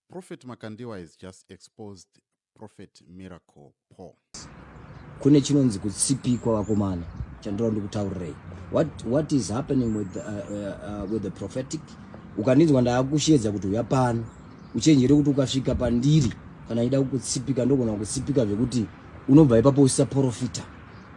Prophet Makandiwa has just exposed Prophet Miracle Paul. Kune chinonzi kutsipikwa vakomana chandira ndikutaurirai. What what is happening with the, uh, uh, uh, with the prophetic? Ukaninzwa ndaakushedza kuti uya pano. Uchenjere kuti ukasvika pandiri kana ida kukutsipika ndogona kukutsipika zvekuti unobva ipapo usisaporofita.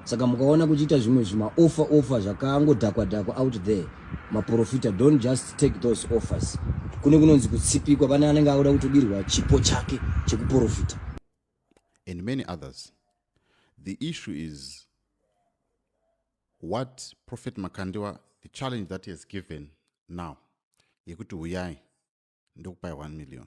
saka mukaona kuchiita zvimwe zvima offer offer zvakangodhakwa dhakwa out there maprofita don't just take those offers kune kunonzi kutsipikwa pane anenge auda kutobirwa chipo chake chekuprofita and many others the issue is what prophet makandiwa the challenge that he has given now yekuti huyai ndokupai 1 million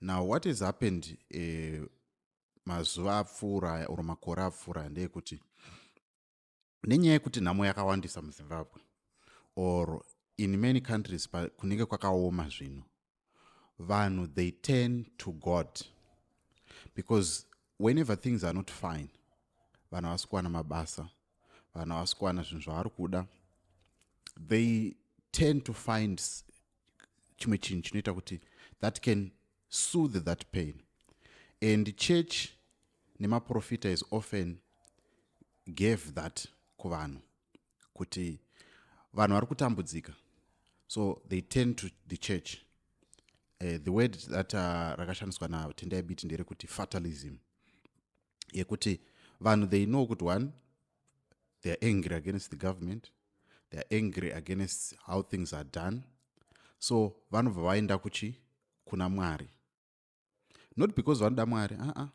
now what has happened uh, mazuva apfuura aya or makore apfuura aya ndeyekuti nenyaya yekuti nhamo yakawandisa muzimbabwe or in many countries kunenge kwakaoma zvinhu vanhu they turn to god because whenever things are not fine vanhu havasi kuwana mabasa vanhu havasi kuwana zvinhu zvavari kuda they turn to find chimwe chinhu chinoita kuti that can soothe that pain and church nemaprofita is often gave that kuvanhu kuti vanhu vari kutambudzika so they tend to the church uh, the word that uh, rakashandiswa natendai biti nderekuti fatalism yekuti vanhu they know kuti one they are angry against the government they are angry against how things are done so vanobva vaenda kuchi kuna mwari not because vanoda mwari aa uh -uh.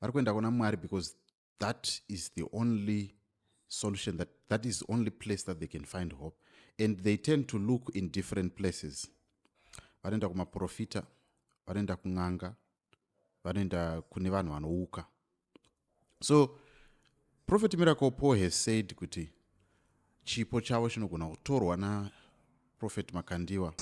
vari kuenda kuna mwari because that is the only solution that that is only place that they can find hope and they tend to look in different places vanoenda kumaprofita vanoenda kun'anga vanoenda kune vanhu vanouka so prophet miracle paul has said kuti chipo chavo chinogona kutorwa naprofet makandiwa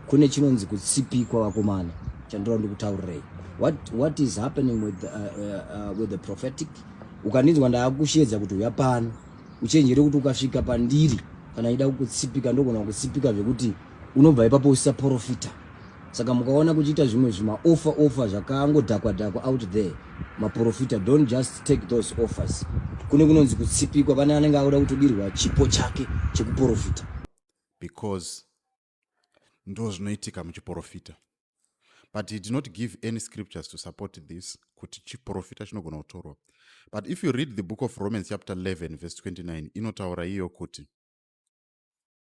kune chinonzi kutsipikwa vakomana chandinoda ndikutaurirei what, what is happening with, uh, uh, uh, with the prophetic ukandinzwa ndaakushedza kuti uya pano uchenjere kuti ukasvika pandiri kana ida kukutsipika ndogona kukutsipika zvekuti unobva ipapo usisaporofita saka mukaona kuchiita zvimwe zvimaofa ofa zvakangodhakwa dhakwa out there maprofita don't just take those offers kune kunonzi kutsipikwa pane anenge akuda kutodirwa chipo chake chekuprofita because ndo zvinoitika muchiprofita but he did not give any scriptures to support this kuti chiprofita chinogona kutorwa but if you read the book of romans chapter 11 verse 29 inotaura iyo kuti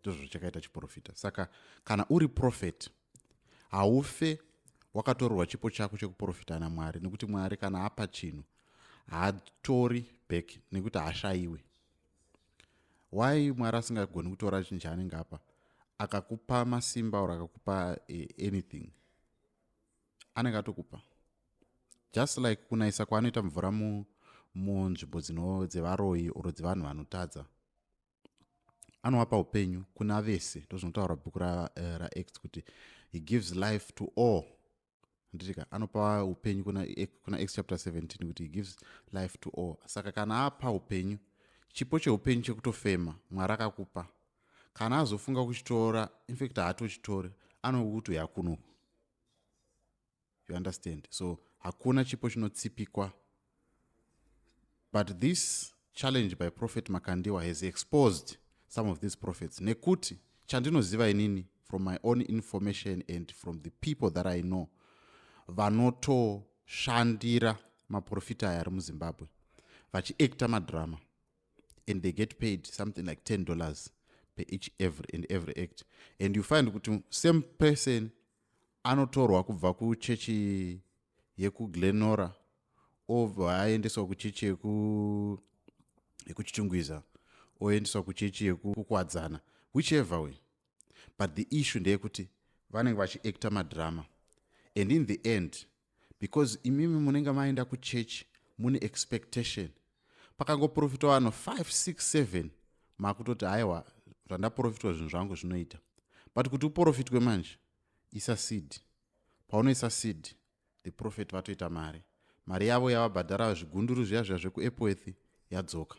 ndizvo chakaita chiprofita saka kana uri profeti haufe wakatorerwa chipo chako chekuprofita namwari nekuti mwari kana apa chinhu haatori back nekuti haashayiwe why mwari asingagoni kutora chinhu chaanenge apa akakupa masimba or akakupa eh, anything anenge atokupa just like kunayisa kwaanoita mvura munzvimbo dzino dzevaroyi or dzevanhu vanotadza anowapa upenyu kuna vese ndozvinotaura bhuku raacts ra eh, kuti he gives life to all nditika anopa upenyu kuna, eh, kuna acts chapter 17 kuti he gives life to all saka kana apa upenyu chipo cheupenyu chekutofema mwari akakupa kana azofunga kuchitora infact haatochitori anokuti uyakunoku you understand so hakuna chipo chinotsipikwa but this challenge by prophet makandiwa has exposed some of these prophets nekuti chandinoziva inini from my own information and from the people that i know vanotoshandira maprofita aya ari muzimbabwe vachiacta madrama and they get paid something like 10 dollars per each every and every act and you find kuti same person anotorwa kubva kuchechi yekuglenora obva aendeswa kuchechi yekuchitungwiza oendeswa kuchechi yekukwadzana whichever way but the issue ndeyekuti vanenge vachiacta madrama and in the end because imimi munenge maenda kuchurch mune expectation pakangoprofitwa vanhu 567 makutoti haiwa zvandaprofitwa zvinhu zvangu zvinoita but kuti uprofitwe manje isa seed paunoisa seed the profit vatoita mari mari yavo yavabhadhara zvigunduru zviya zviya zvekuepworth yadzoka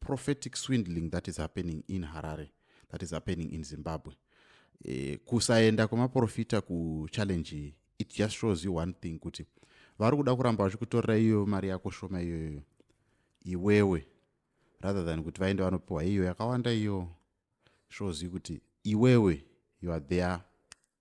prophetic swindling that is happening in harare that is happening in zimbabwe e, kusaenda kwemaprofita kuchallenge it just shows you one thing kuti vari kuda kuramba vachikutorera iyoyo mari yako shoma iyoyoyo iwewe rather than kuti vaende vanopiwa iyo yakawanda iyo shows you kuti iwewe you are there